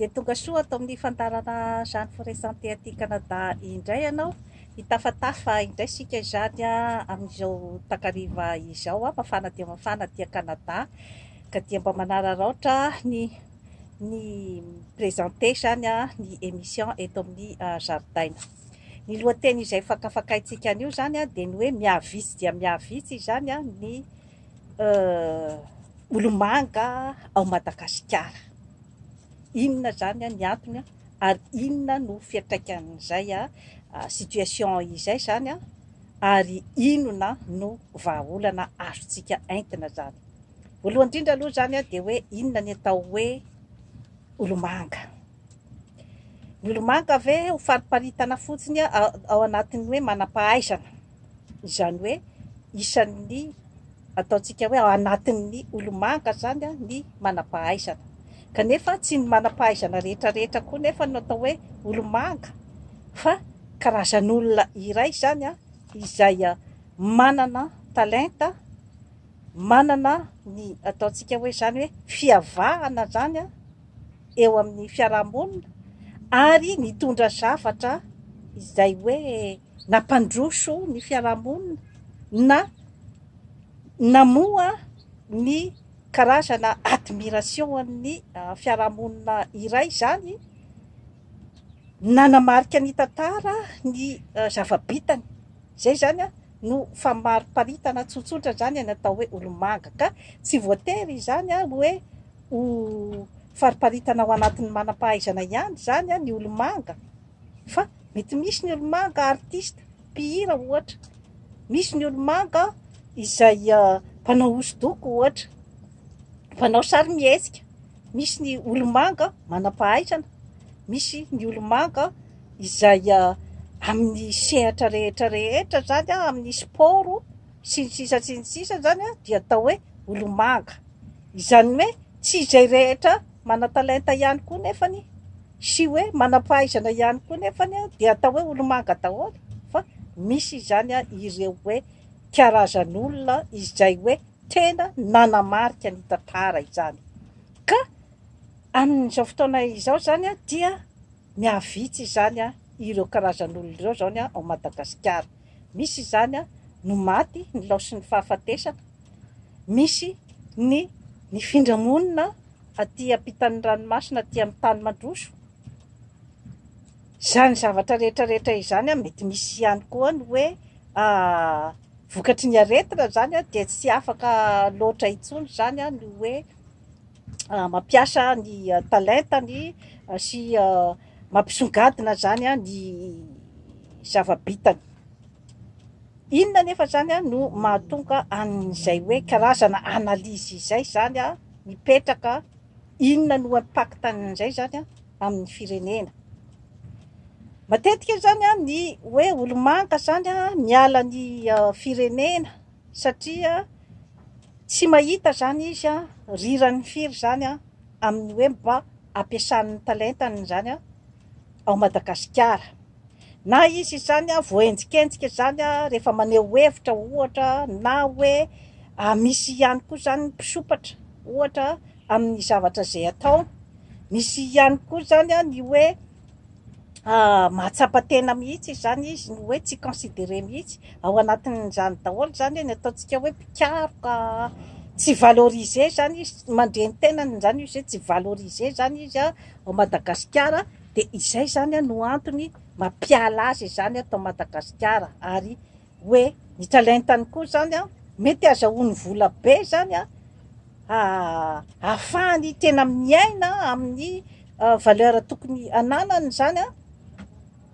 Dia tonga soa ato amin'ny fandaharana izany Foresanté aty Canada indray ianao. Hitafatafa indray isika izany amin'izao takariva izao. Mafana dia mafana aty Canada ka dia mba manararaotra ny ny présenté izany ny émission eto amin'ny ah, zaridaina. Ny lohateny izay fakafakaintsika anio izany dia ny hoe mihavitsy dia mihavitsy izany ny Euh, olomanga ao Madagasikara. Inona izany ny antony ary inona no fiantraikan'izay situation izay izany ary inona no vahaolana azontsika entina izany. Voalohany indrindra aloha izany dia hoe inona ny atao hoe olomanga. Milomanga ve ho fariparitana fotsiny ao anatin'ny hoe manam-pahaizana, izany hoe isan'ny ataontsika hoe ao anatin'ny olomanga izany ny manam-pahaizana? Kanefa tsy ny manam-pahaizana rehetrarehetra koa nefa no atao hoe olomanga fa karazan'olona iray izany izay manana talenta, manana ny ataontsika hoe izany hoe fiavahana izany. eo amin'ny fiarahamonina ary nitondra zavatra izay hoe nampandroso ny fiarahamonina na namoha ny karazana admiration'ny fiarahamonina iray izany, nanamarika ny tantara ny zava-bitany. Izay izany no famariparitana tsotsotra izany ny atao hoe olomanga ka tsy voatery izany hoe... Ho fariparitana ao anatin'ny manam-pahaizana ihany izany ny olomanga fa mety misy ny olomanga artista, mpihira ohatra, misy ny olomanga izay mpanao hosodoko ohatra, mpanao sarimihetsika, misy ny olomanga manam-pahaizana, misy ny olomanga izay amin'ny sehatra rehetra rehetra izany amin'ny sport. sy ny sisa sy ny sisa zany dia atao hoe olomanga izany hoe tsy izay rehetra manatalenta ihany koa nefany sy hoe manampahaizana ihany koa nefany dia atao hoe olomanga daholo fa misy izany ireo hoe karazan'olona izay hoe tena nanamarika ny tantara izany ka amin'izao fotoana izao zany dia mihavitsy izany ireo karazan'olona ireo zany ao Madagasikara Misy izany no maty nilaosin'ny fahafatesana, misy ny nifindra monina aty ampitan'ny ranomasina aty amin'ny tany mandroso. Izany zavatra rehetra rehetra izany mety misy ihany koa ny hoe vokatry ny aretina izany dia tsy afaka loatra intsony izany ny hoe mampiasa ny talentany sy mampisongadina izany ny zava-bitany. Inona anefa izany no mahatonga an'izay hoe karazana analyse izay izany mipetraka, inona no impact an'izay izany amin'ny firenena? Matetika izany ny hoe olo-manga izany miala ny firenena, satria tsy mahita izany izy rirany firy izany amin'ny hoe mba hampiasany ny talentany izany ao Madagasikara. Na izy izany voaenjikenjika izany rehefa maneho hevitra ohatra na hoe misy ihany koa izany ny mpisompatra ohatra amin'ny zavatra izay ataony. Misy ihany koa izany ny hoe mahatsapa tena mihitsy izany izy no hoe tsy considéré mihitsy ao anatin'izany daholo izany ny ataontsika hoe mpikaroka tsy valorisé izany izy mandre ny tenany izany izy hoe tsy valorisé izany izy ao Madagasikara dia izay izany no antony mampiala azy izany ato Madagasikara ary hoe ny talentany koa zany an, mety azahoany vola be zany an, ahafahany tena miaina amin'ny valeur tokony ananany zany an,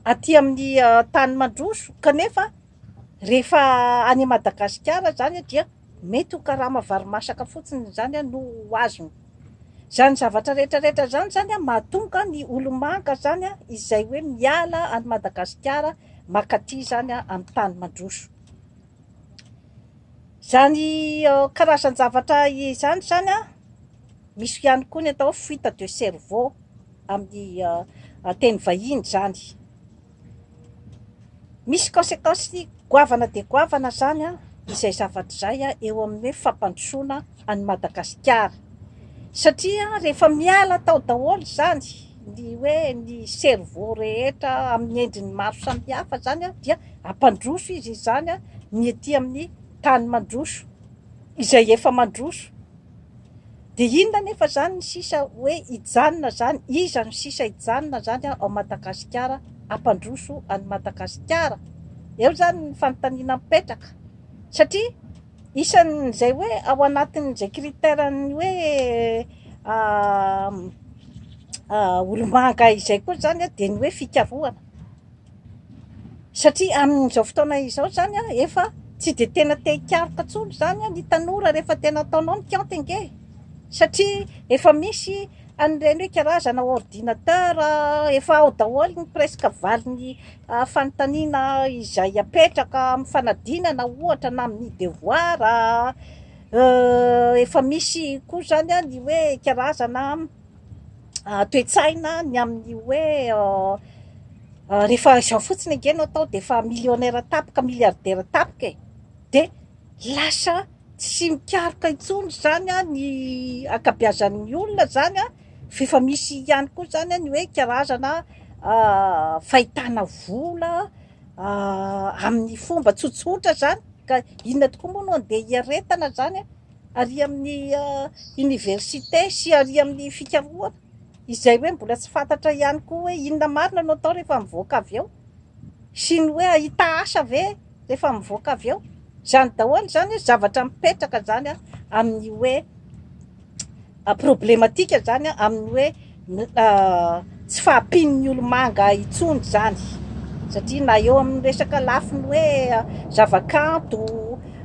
aty amin'ny tany mandroso, kanefa rehefa any Madagasikara zany dia Mety ho karama varimasaka fotsiny izany no ho azony. Izany zavatra rehetra rehetra izany izany mahatonga ny olomanga izany izay hoe miala any Madagasikara makaty izany amin'ny tany mandroso. Izany karazan-javatra izany izany misy ihany koa ny atao hoe fuite de cerveau amin'ny teny vahiny izany. Misy conséquence goavana dia goavana izany izay zavatra izay eo amin'ny hoe fampandrosoana an'i Madagasikara. Satria rehefa miala tao daholo izany ny hoe ny cerveau rehetra amin'ny endriny maro samihafa izany dia hampandroso izy izany ny ety amin'ny tany mandroso izay efa mandroso. Dia inona anefa izany ny sisa hoe hijanona izany? Iza no sisa hijanona izany ao Madagasikara, hampandroso an'i Madagasikara? Eo izany ny fanontaniana mipetraka. Satria isan'izay hoe ao anatin'izay critère-n'ny hoe olomanga izay koa izany dia ny hoe fikarohana. Satria amin'izao fotoana izao izany efa tsy dia tena te hikaroka intsony izany ny tanora rehefa tena ataonao ny kianty ange satria efa misy an'ireny hoe karazana ordinateur efa ao daholo ny presque valin'ny fanontaniana izay apetraka amin'ny fanadinana ohatra na amin'ny devoir efa misy koa izany ny hoe karazana toe-tsaina ny amin'ny hoe rehefa izao fotsiny ange no atao dia efa millionnaire tapaka milliardaire tapaka e dia lasa tsy mikaroka intsony izany a ny ankabiazan'ny olona izany a f'efa misy ihany koa izany a ny hoe karazana fahitana vola amin'ny fomba tsotsotra izany ka inona tokoa moa no andeha hiaretana izany a ary amin'ny oniversite sy ary amin'ny fikarohana izay hoe mbola tsy fantatra ihany koa hoe inona marina no atao rehefa mivoaka avy eo sy ny hoe hahita asa ve rehefa mivoaka avy eo, izany daholo izany hoe zavatra mipetraka izany amin'ny hoe. Problematika zany amin'ny hoe tsy fahampian'ny olomanga intsony izany satria na eo amin'ny resaka lafiny hoe zavakanto,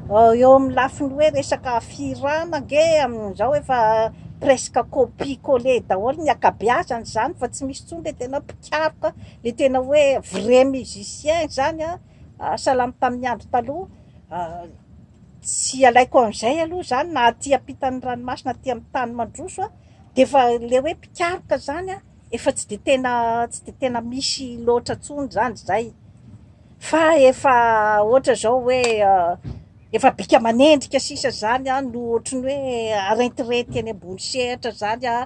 eo amin'ny lafiny hoe resaka fihirana ange amin'izao efa presque copie coller daholo ny ankabeazany izany fa tsy misy intsony le tena mpikaroka, le tena hoe vrai musicien izany an, salama tamin'ny andro taloha. Tsy alaiko amin'izay aloha izany na aty ampitan'ny ranomasina aty amin'ny tany mandroso a, dia efa ilay hoe mpikaroka izany a, efa tsy dia tena tsy dia tena misy loatra intsony izany izay, fa efa ohatra izao hoe efa bika aman'endrika sisa izany a no ohatry ny hoe arentirety eny ambony sehatra izany a,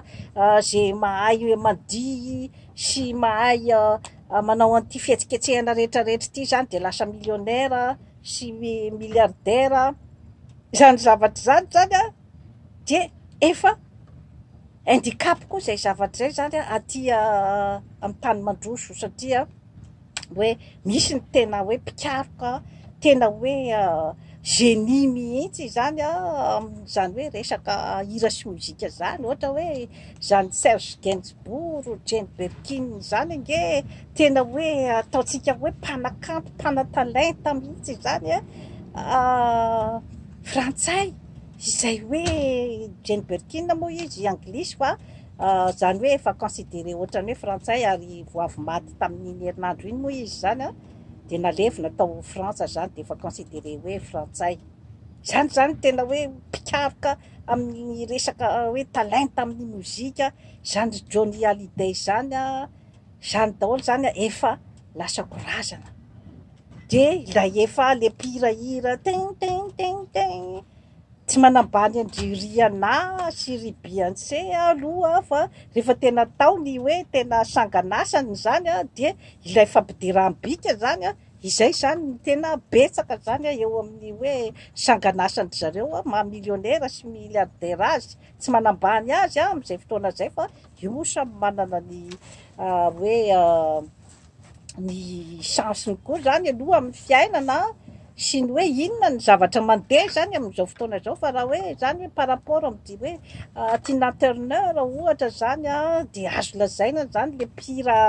izay mahay mandihy sy mahay manao an'ity fihetsiketsehana rehetrarehetra ity izany dia lasa millionnaire sy milliardaire izany zavatra izany zany a dia efa indicap koa izay zavatra izay zany a aty amin'ny tany mandroso satria hoe misy ny tena hoe mpikaroka tena hoe génie mihitsy izany a amin'izany hoe resaka hira sy mozika izany ohatra hoe Zany Serge Gainsbourg ou Jane Birkin zany ange tena hoe ataontsika hoe mpanakanto, mpanatalenta mihitsy izany an! frantsay izay hoe Jane Birkin moa izy anglisy fa zany hoe efa considerer ohatran'ny hoe frantsay ary vao avy maty tamin'iny herinandro iny moa izy izany an! dia nalevina tao Frantsa zany dia efa considerer hoe frantsay. Zany zany tena hoe mpikaroka. amin'ny resaka hoe talenta amin'ny mozika, izany Johnny Hallyday izany a, izany daholo izany a, efa lasako razana. Dia ilay efa le mpihira hira tin tin tin tin, tsy manambany an-dry Rihanna sy ry Beyonce aho aloha fa rehefa tena atao ny hoe tena sangan'asany izany a, dia ilay fampidirambikany izany a, Izay izany ny tena betsaka izany a, eo amin'ny hoe sangan'asan-dry zareo a, maha millionnaire sy milliardaire azy, tsy manambany azy a amin'izay fotoana izay fa io samy manana ny hoe ny chance-ny koa izany aloha amin'ny fiainana a, sy ny hoe inona ny zavatra mandeha izany amin'izao fotoana izao fa raha hoe izany hoe par rapport amin'ity hoe Tina Turner ohatra izany a dia azo lazaina izany le pire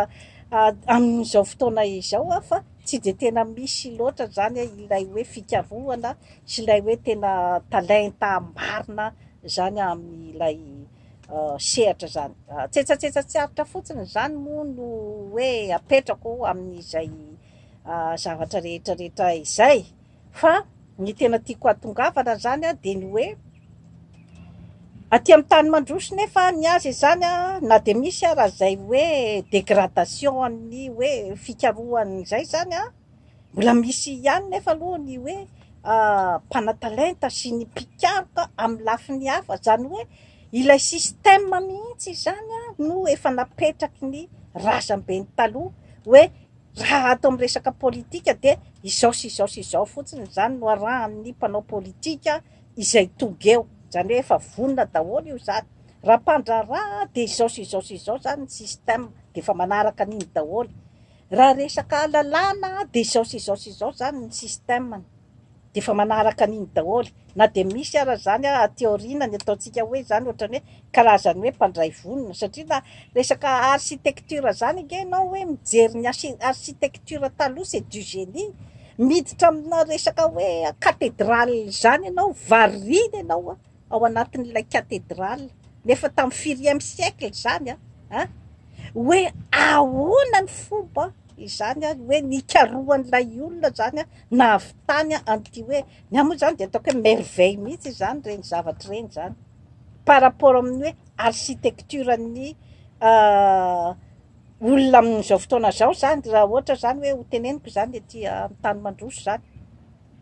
amin'izao fotoana izao aho fa tsy dia tena misy loatra izany ilay hoe fikarohana sy ilay hoe tena talenta marina izany amin'ilay sehatra izany. Tsetsatsetsa tsy aritra fotsiny izany moa no hoe apetrako amin'izay zavatra rehetrarehetra izay. Fa ny tena tiako hahatongavana zany a de ny hoe aty am tany mandroso nefa ny azy izany a na de misy ara zay hoe degradation an'ny hoe fikarohany zay zany a mbola misy ihany nefa aloha ny hoe mpanatalenta sy ny mpikaroka am lafiny hafa zany hoe ilay système mihitsy izany a no efa napetraky ny razambeny taloha hoe Raha ato amin'ny resaka politika dia izao sy izao sy izao fotsiny izany no arahan'ny mpanao politika izay tonga eo, izany hoe efa vonona daholo io izany. Raha mpandraharaha dia izao sy izao sy izao izany ny système, dia efa manaraka an'iny daholo. Raha resaka lalàna dia izao sy izao sy izao izany ny système-ny. dia efa manaraka an'iny daholo, na dia misy ara izany aty aoriana ny ataontsika hoe izany ohatrany hoe karazany hoe mpandray vonona satria na resaka architecture izany ange ianao hoe mijery ny architecture taloha c'est du génie, miditra amina resaka hoe cathedrale izany ianao variana ianao a! ao anatin'ilay cathedrale, nefa tamin'ny firième siècle izany an, an, hoe ahoana ny fomba izany an, hoe nikarohan'ilay olona izany an, nahavitany an, an'ity hoe, ny ahy moa izany dia ataoko hoe merveille mihitsy izany ireny zavatra ireny izany, par rapport amin'ny hoe architecture-n'ny olona amin'izao fotoana izao izany, raha ohatra izany hoe hoteneniko izany ety Antanimandroso izany.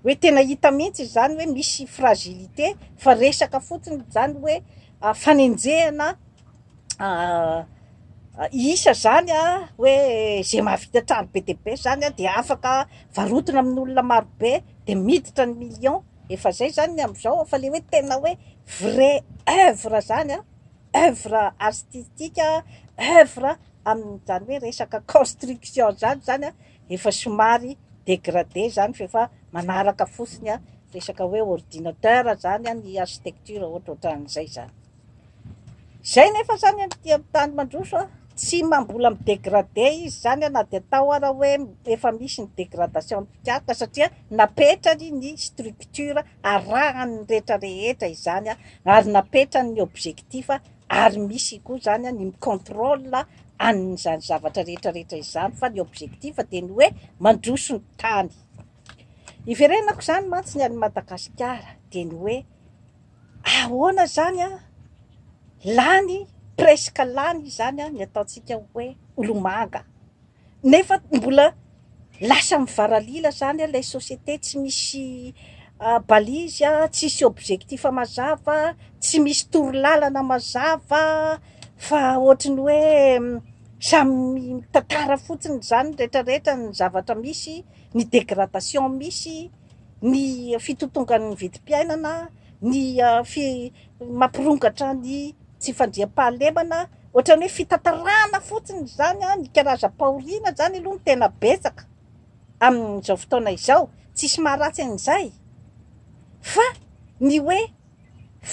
Hoe tena hita mihitsy izany hoe misy fragilité fa resaka fotsiny izany hoe fanenjehana isa izany hoe izay mahavita trano be dia be izany dia afaka varotina amin'olona maro be dia miditra ny millions efa izay izany ny amin'izao fa ilay hoe tena hoe vrai oeuvre izany oeuvre artistique oeuvre amin'izany hoe resaka construction izany izany an Efa somary dégradé zany fa efa manaraka fotsiny resaka hoe ordinateur zany ny architecture ohatrohatran'izay zany. Zay nefa zany aty amin'ny tany mandroso tsy mbola mi-dégradé izy zany na dia atao ara hoe efa misy ny dégradation am-pikaroka satria napetrany ny structure arahan'ny rehetra rehetra izany ary napetrany ny objectif ary misy koa izany ny mi-contrôle an'izany zavatra rehetra rehetra izany fa ny objectif dia ny hoe mandroso ny tany. Iverenako izany mantsy ny an'i Madagasikara dia ny hoe ahoana izany an, lany presque lany izany ny ataontsika hoe olomanga. Nefa mbola lasa mivaralila zany ilay société, tsy misy balise, tsisy objectif mazava, tsy misy torolalana mazava fa ohatry ny hoe samy mitantara fotsiny izany ny rehetra rehetra ny zavatra misy, ny dégradation misy, ny fitotongan'ny vidim-piainana, ny Mampirongatra ny tsy fandriampahalemana, ohatran'ny hoe fitantarana fotsiny izany, ny karazam-pahoriana izany aloha no tena betsaka amin'izao fotoana izao, tsisy maharatsy an'izay fa ny hoe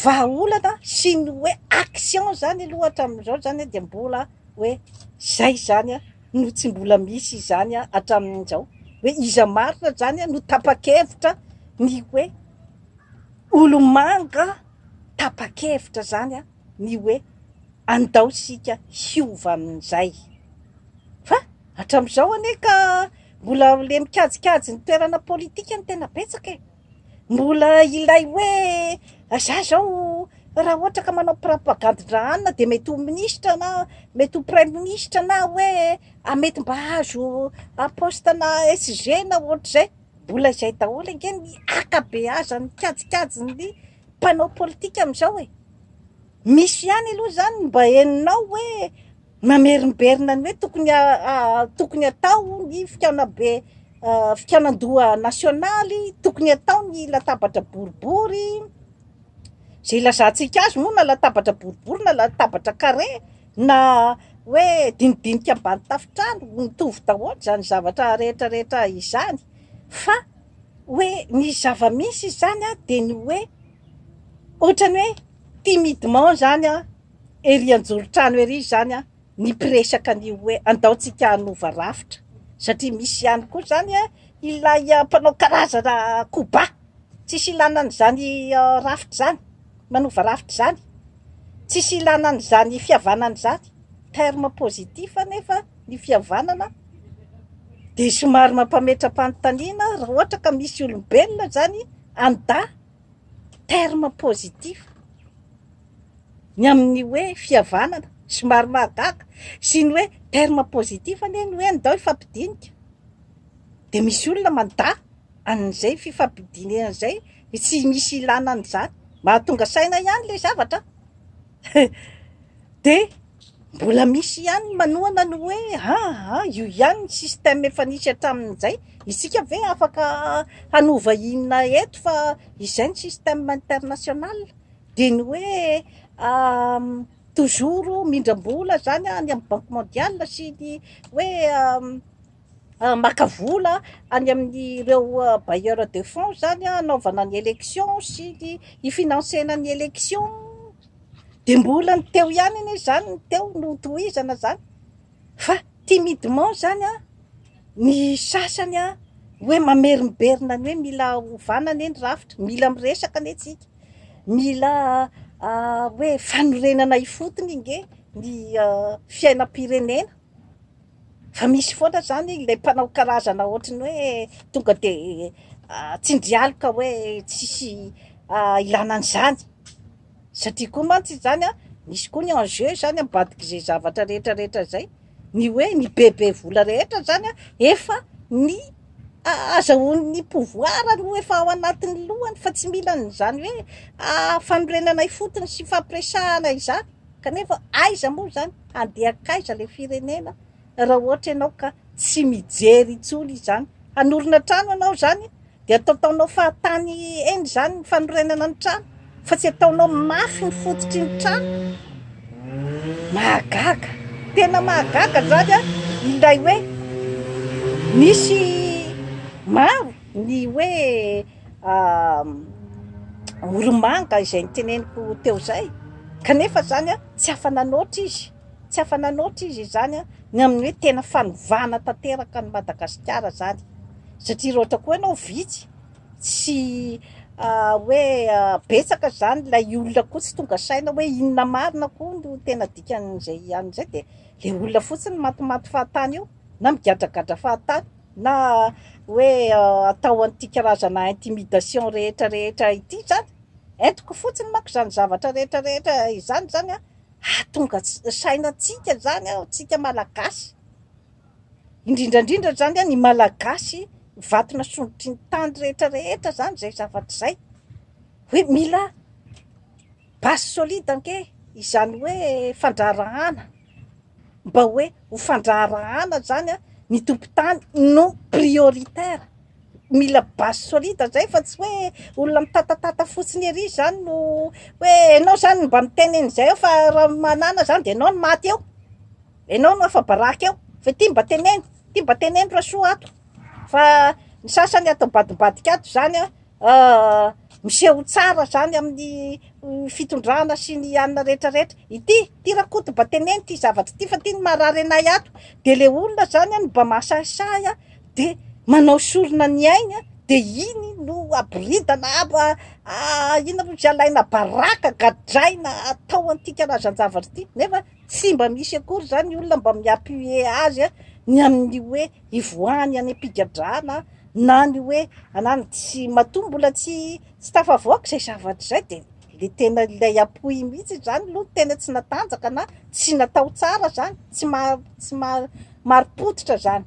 vahaolana sy ny hoe action izany aloha hatramin'izao izany dia mbola hoe izay izany no tsy mbola misy izany hatramin'izao, hoe iza marina izany no tapa-kevitra ny hoe. Olomanga tapa-kevitra izany ny hoe andao isika hiova amin'izay. Fa hatramin'izao anie ka mbola ilay mikajikajy ny toerana politika no tena betsaka e! Mbola ilay hoe izaho izao raha ohatra ka manao propagandin-dra hanina dia mety ho minisitra na mety ho praiminisitra na hoe mety mba hahazo poste-na SG na ohatr'izay. Mbola izay daholo ange ny akabeazan'ny kajikajin'ny mpanao politika amin'izao e! Misy ihany aloha izany ny mba henonao hoe mamerimberina ny hoe tokony tokony atao ny fikaonabe fikaonan-doha nasionaly, tokony atao ny latabatra boribory, izay ilazantsika azy moa na latabatra boribory na latabatra carré. Na hoe dinidinika ambany tafontrano, mitovy daholo izany zavatra rehetra rehetra izany, fa hoe ny zava-misy izany dia ny hoe ohatran'ny hoe timidement izany ery anjoron-trano ery izany ny mpiresaka ny hoe andaontsika hanova rafitra, satria misy ihany koa izany ilay mpanao karazana koba, tsisy ilana an'izany rafitra izany, manova rafitra izany. Tsisy ilana an'izany fihavanana izany. Terme positif anefa ny fihavanana dia somary mampametra-panontaniana raha ohatra ka misy olombelona izany any dahy. Terme positif ny amin'ny hoe fihavanana. Somary mahagaga sy ny hoe terme positif anie ny hoe ndao hifampidinika dia misy olona mandaha. an'izay fifampidinihana izay tsy misy ilana an'izany, mahatonga saina ihany ilay zavatra an! dia mbola misy ihany ny manohana ny hoe aa io ihany ny système efa nisy hatramin'izay, isika ve afaka hanova inona eto fa izay ny système international, dia ny hoe toujours mindram-bola izany any amin'ny banky mondiale sy ny hoe maka vola any amin'ireo bailleurs de fonds izany hanaovana ny élection sy ny hi-financer-na ny élection, dia mbola ny teo ihany anie izany ny teo no tohizana izany fa timidement izany an, ny sasany an, hoe mamerimberina ny hoe mila hovana anie ny rafitra, mila miresaka anie tsika, mila hoe fanorenana ifotony ange ny fiainam-pirenena. Fa misy foana izany ilay mpanao karazana ohatran'ny hoe tonga dia tsindrialoka hoe tsisy ilana an'izany. Satria koa mantsy izany misy koa ny enjeu izany ambadik'izay zavatra rehetra rehetra izay. Ny hoe ny bebe vola rehetra izany efa ny azahoan'ny pouvoir no efa ao anatin'ny lohany fa tsy mila an'izany hoe fanorenana ifotony sy fampiresahana izany. Kanefa aiza moa izany? Handeha hankaiza ilay firenena raha ohatra ianao ka tsy mijery intsony izany? Hanorina trano ianao izany dia ataotaonao fahatany eny izany ny fanorenana ny trano fa tsy ataonao mafy ny fototry ny trano? Mahagaga! Tena mahagaga izany an! Ilay hoe misy maro ny hoe Oromanga izay niteneniko teo izay, kanefa izany tsy afa-nanoatra izy, tsy afa-nanoatra izy izany ny amin'ny hoe tena fanovana tanteraka an'i Madagasikara izany, satria raha ohatra koa ianao vitsy sy hoe betsaka izany ilay olona koa tsy tonga saina hoe inona marina koa no tena dikan'izay an'izay dia ilay olona fotsiny matimaty fahatany eo na migadragadra fahatany. Na hoe atao an'ity karazana intimidation rehetra rehetra ity izany, entiko fotsiny manko izany zavatra rehetra rehetra izany izany an, hahatonga sainantsika izany an, tsika malagasy, indrindra indrindra izany an ny malagasy vato nasondrotry ny tany rehetra rehetra izany izay zavatra izay, hoe mila. Base solide ange izany hoe fandraharahana, mba hoe ho fandraharahana zany an, ny tompon-tany no prioritaire, mila base solide zay fa tsy hoe olona mitatatata fotsiny ery izany no hoe enao zany mba miteny an'izay eo fa raha manana zany dia enao no maty eo, enao no afa-baraka eo, fa ity mba teneno, ity mba teneno rasoa ato. Fa ny sasany ato ambadimbadika ato izany an, miseho tsara izany amin'ny fitondrana sy ny anona rehetra rehetra. Ity, ity Rakoto mba teneno ity zavatra ity fa ity no marary anay ato. Dia ilay olona izany an no mba mahasahisahy an, dia manao sorona ny ainy an, dia iny no aboridana abo an, inona moa izay alaina baraka, gadraina, atao an'ity karazan-javatra ity. Nefa Tsy mba misy akory izany ny olona mba mi-appuyer azy ny amin'ny hoe hivoahany any am-pigadrana na ny hoe anany tsy, matoa mbola tsy tsy tafavoaka izay zavatra izay dia ilay tena ilay apoy mihitsy izany aloha no tena tsy natanjaka na tsy natao tsara izany, tsy maha tsy maha marim-pototra izany.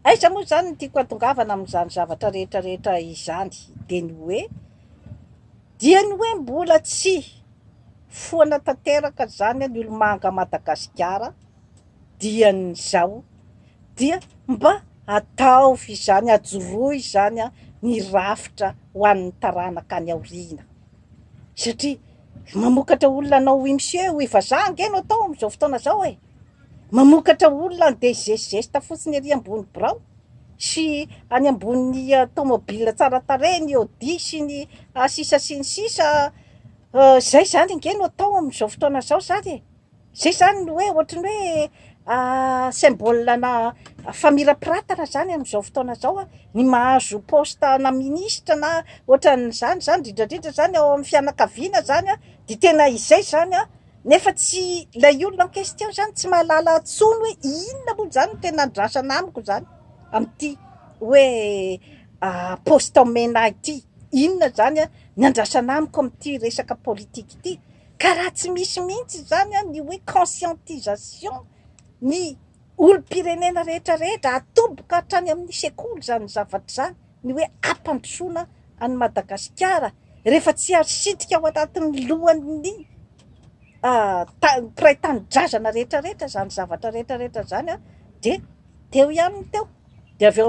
Aiza moa izany no tiako hatongavana amin'izany zavatra rehetra rehetra izany dia ny hoe Dia ny hoe mbola tsy foana tanteraka zany ny olomanga Madagasikara dian'izao dia mba ataovy izany ajoroy izany ny rafitra ho an'ny taranaka any aoriana satria mamokatra olona anao hoy msie hoy vazaha ange no atao amin'izao fotoana zao e! Mamokatra olona handeha zesizesta fotsiny ery ambony birao sy any ambony tomobile tsara tarehy, ny Audi sy ny sisa sy ny sisa, izay izany ange no atao amin'izao fotoana izao izany e! izay izany no hoe ohatran'ny hoe symbole-na famirapiratana izany amin'izao fotoana izao an! ny mahazo poste-na ministra na ohatran'izany izany, indrindrandrindra izany ao amin'ny fianakaviana izany an, dia tena izay izany an, Nefa tsy ilay olona en question izany tsy mahalala intsony hoe inona moa izany no tena andrasana amiko izany amin'ity hoe poste en MENA ity. Inona izany ny andrasana amiko amin'ity resaka politique ity. Ka raha tsy misy mihitsy izany ny hoe conscientisation ny olom-pirenena rehetra rehetra, atoboka hatrany amin'ny sekoly izany zavatra izany. ny hoe ampandrosoana an'i Madagasikara rehefa tsy asitrika ao anatin'ny lohan'ny mpiray tanindrazana rehetra rehetra izany zavatra rehetra rehetra izany dia teo ihany ny teo dia avy eo